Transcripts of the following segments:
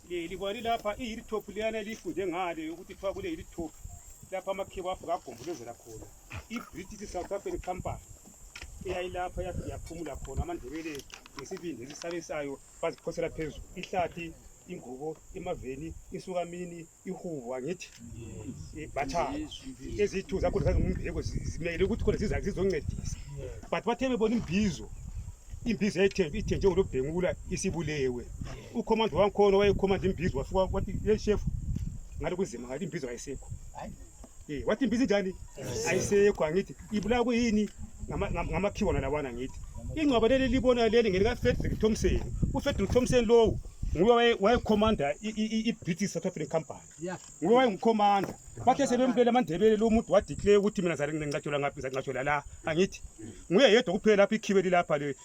Le libali lapha iyilithophu liyana elifuze ngale ukuthi kuthiwa kule yilithophu lapha amakhiwa avuka agombolozela khona i-british south african company eyayilapha yathi yaphumula khona amandebele ngesibindi esisabisayo baziphosela phezulu ihlathi ingubo emaveni insukamini ihubo angithi Eh, batshaba ezithu zakhona zazingumbeko zi- zimele ukuthi khona ziza- zizoncedisa but bathe bebona imbizo imbizo yayithe- ithe njengolobhengula isibulewe ukhomanda wangikhona wayekhomanda imbizo wafika wathi yeshefu ngale kunzima ngale imbizo ayisekho Eh, wathi mbizi njani? Ayisekho angithi. Ibulawa kuyini? Ngama- ngam- Ngamakhiwa wona lawana ngithi. Ingcwaba leli libona leli ngelika Frederick Thompson. UFrederick Thompson lowo nguye waye- wayekhomanda i- i- i- i-British South African Company. Yeah. Nguye wayengukhomanda. Bathe sebembulele amandebele lo muntu wadeclare ukuthi mina ngizale nginqatshelwa ngaphi ngizale nginqatshelwa la angithi. Nguye yedwa kuphela lapha ikhibe lilapha le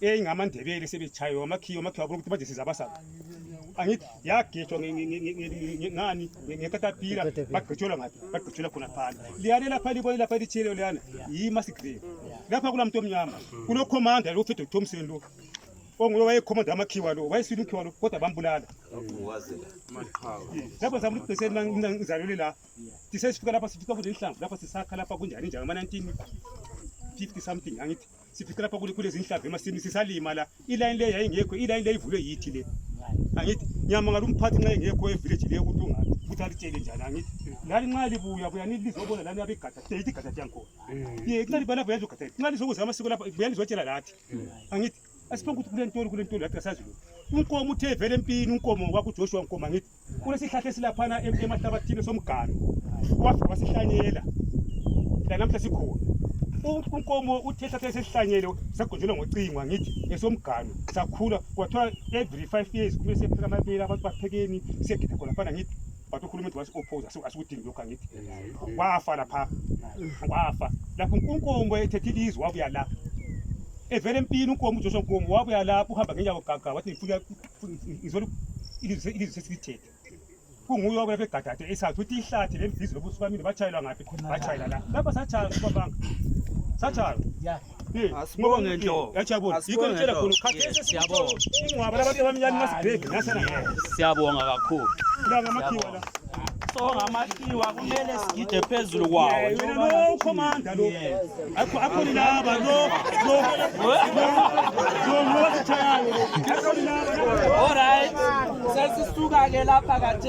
eyi ngamandebele sebetshaywe amakhiyo amakhiyo abona ukuthi manje sizabasaba angithi yagejwa ngani ngekatapila bagqitshelwa ngaphi bagqitshelwa khona phana liyane lapha libone lapha litshiyeleyo liyana yimasigrev lapha kula mntu omnyama kulokhomanda lo ufedo thomson lo onguye wayekhomanda amakhiwa lo wayesile umkhiwa lo kodwa bambulala lapho zama ukuthi bese mina ngizalele la sisesifika lapha sifika kude inhlamvu lapha sisakha lapha kunjani njani ama-1950 something angithi siphethe lapha kule zinhlava emasimini sisalima la ilayini le yayingekho ilayini le ivulwe yithi le angithi ngiyamangala umphathi nxa engekho evileji le ukuthi ungaphi ukuthi alitshele njani angithi lani nxa libuya buya nilizobona lani abegada sideyithi igada lyangikhona hmm. ye nxa liba lapho yazi ugada nxa lizokuza amasiko lapha buya nizotshela lathi hmm. angithi asiphanga ukuthi kule ntolo kule ntolo lathi kasazi lo unkomo uthe vele empini unkomo wakujoshua nkomo angithi Kulesihlahla esilaphana em- emahlabathini somganu. Wafika wasihlanyela. Lanamhla sikhona. U- Unkomo uthe ihlahla esesihlanyele sagonjelwa ngocingo angithi esomganu sakhula kwathiwa every five years kumele siyepheka amabele abantu baphekeni siyegida khona fana ngithi but uhulumende wasi-opposa asiku- asikudingi lokhu angithi wafa lapha wafa lapho unkomo ethethe ilizwe wabuya la evele empini unkomo ujoshwa nkomo wabuya lapho uhamba ngenyawo gaga wathi ngifuna izolu ilizwe ilizwe sesithethe kunguye owabuya begadade esazi ukuthi ihlathi lembizi lobusuku bamini batshayelwa ngaphi batshayela la lapha satshaywa kubabanga satshaywa asibonge nto yachabona yikho ngitshela khona ukhathele siyabonga ingwaba labantu abamnyama masibheke nasana siyabonga kakhulu songa amashiwa kumele sigide phezulu kwawo wena lo commander lo akho akho laba lo lo lo lo all right sesisuka ke lapha kathi